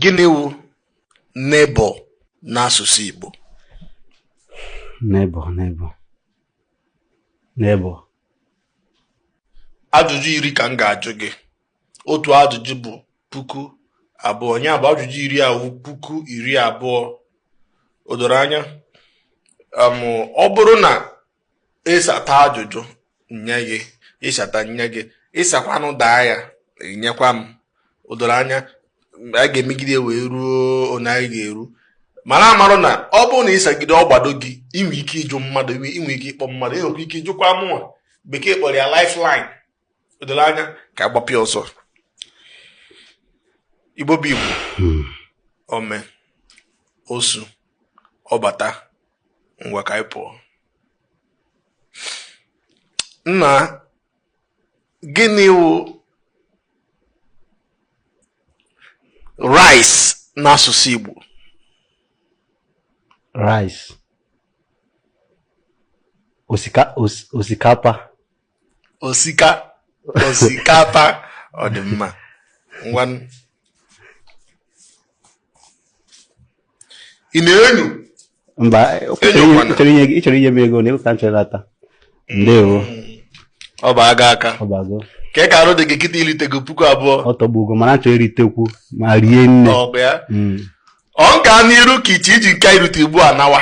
gịnị wụ neighbor n'asụsụ Igbo neighbor neighbor neighbor ajụjụ iri ka m ga-ajụ gị otu ajụjụ bụ puku abụọ ya bụ ajụjụ iri awụ puku iri abụọ o doro anya ọ bụrụ na ịsata ajụjụ nye gị ịsata nye gị ịsakwanụ daa ya inyekwa m o doro anya a ga-emegide wee ruo onye anyị ga-eru mana marụ na ọ bụrụ na ịsagide ọ gbado gị inwe ike ịjụ mmadụ inwe ike ịkpọ mmadụ inwekwa ike ịjụkwa mụnwa bekee kpọrọ ya lifeline doro anya ka agbapịa ọsọ igbo bụ igbo hmm. ome osu ọbata ngwa ka anyị pụọ nna gịnị wụ rice n'asụsụ igbo rice osikapa osika osikapa ọ dị mma ngwa ị na-enyo mba ịchọrọ inye m ego na ịpụta nchọrọ ata ndewo ọ bụ aga aka ọ bago kee ka arụ dị gị kịta iritego puku abụọ ọ tọgbugo mana achọ iritekwu ma rie nne ọ ga hmm. n'iru ka ịchọ iji nke irite ugbu a nawa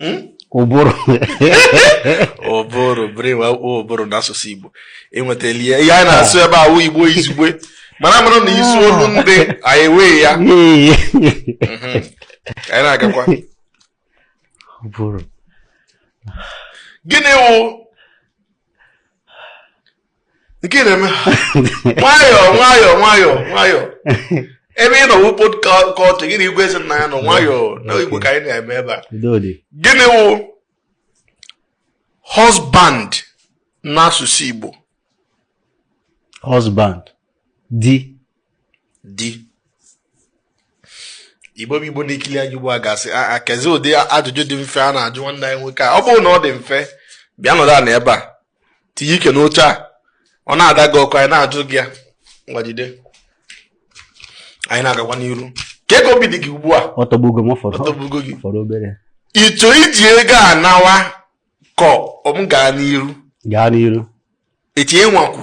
hmm? ụbụrụ ụbụrụ brain wụ ụbụrụ n'asụsụ Igbo inwetala ya ihe anyị na-asụ ebe a wụ Igbo izugbe mana mara na ịsụọ olu ndị anyị ewee ya hmm. anyị na-agakwa gịnị wụ nke na-eme nwayọọ nwayọọ nwayọọ nwayọọ ebe ị nọ wụ podcast gị na igwe eze nna ya nọ nwayọọ na igbo ka anyị na-eme ebe a gịnị wụ husband n'asụsụ igbo husband di di igbo bụ igbo na-ekili anyị ugbu a ga-asị aa ah, ah, kezi ụdị ajụjụ dị mfe a na-ajụ nwanne anyị nwoke a ọ bụrụ na ọ dị mfe bịa nọdụ ala ebe a tinye ike n'oche a ọ na-ada gị ọkụ anyị na-ajụ gị ya ngwa jide anyị na-agakwa n'iru kee ka obi dị gị ugbu a ọ tọgbugo m ọ tọgbugo gị fọrọ obere ịchọ iji ego a nawa ka m gaa n'iru gaa n'iru ịchọ ịnwakwu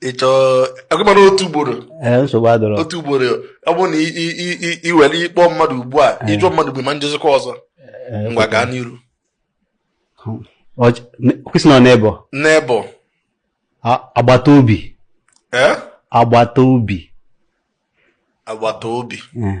ị chọọ agụmana otu ugboro ee nsogbu adịrọ otu ugboro ọ bụrụ na i- i- i- i- i were ịkpọ mmadụ ugbu a ịjụ mmadụ bụ ma ejizikwa ọzọ Ee, ngwa gaa n'iru ọch- ne- question neighbor neighbor a- agbata obi ee agbata obi agbata obi Ee.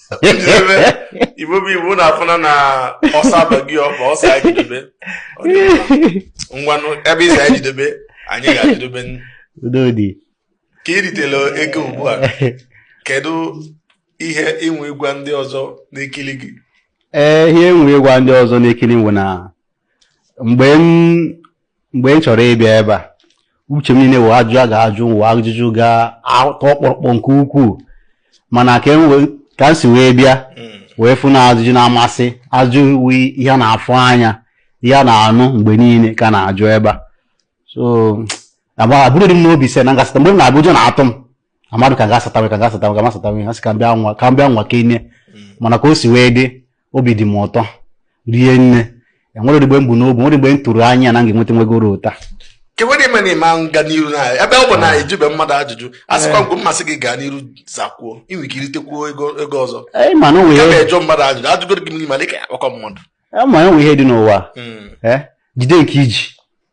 Igbo bụ Igbo na-afụna na ọsọ abaghị ọkpa ọ sị anyị jidebe ngwanụ ebe ị sị anyị jidebe anyị ga-ejidebe ka i ritela ego ugbu a kedu ihe i nwe ịgwa ndị ọzọ na-ekili gị ee ihe m nwe ịgwa ndị ọzọ na-ekili m bụ na mgbe m mgbe m chọrọ ịbịa ebe a uche m niile wụ ajụjụ a ga-ajụ wụ ajụjụ ga-atọ ọkpọrọkpọ nke ukwuu mana ka m wee- ka m si wee bịa wee fụ na ajụjụ na-amasị ajụ wụ ihe a na-afụ anya ihe a na-anụ mgbe niile ka a na-ajụ ebe a so agba abụrụdị m n'obi sị na m ga-asata mgbe m na-abịa ụjọ na-atụ m amadụ ka ga-asatawe ka ga-asatawe ka m asatawe ha sị ka m bịa nwaa ka m bịa nwaa kene mana ka o si wee dị obi dị m ụtọ rie nne enwerọ mgbe m bu n'obi enwerọ mgbe m tụrụ anya na m ga-enweta nwa ego ruru otu a kewere ime na ịma nga n'iru na ebe ọ bụ na a jụbe mmadụ ajụjụ a sịkwa mgbe ọ masị gị gaa n'iru zakwuo i nwe ike iritekwuo ego ego ọzọ Ee, ma na o nwere ya ihe- na-ajụ mmadụ ajụjụ a jụgoro gị mmiri ma dịka ya akpọkọ mmadụ Ee, ma enwe ihe dị n'ụwa Hmm. ee, jide nke i ji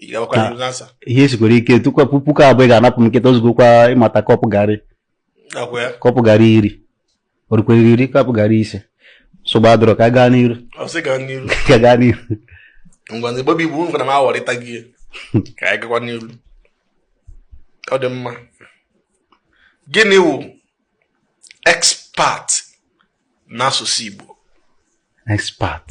Ị ga-agwakwa Ah. ndị ansa. ihe sikwara ike tụkwa pu- puku abụọ ị ga-anapụ m kịta o zugokwa ịmata kọpụ garị Nakwa ya. kọpụ garị iri o rukwerọ iri kọpụ garị ise nsogbu adịrọ ka a gaa n'iru Ọ sị gaa n'iru. ka a gaa n'iru Ngwanụ Igbo bụ Igbo ngwa na m aghọrịta gị ya. Ka anyị gakwa n'iru. Ọ dị mma. Gịnị wụ expert n'asụsụ Igbo? expert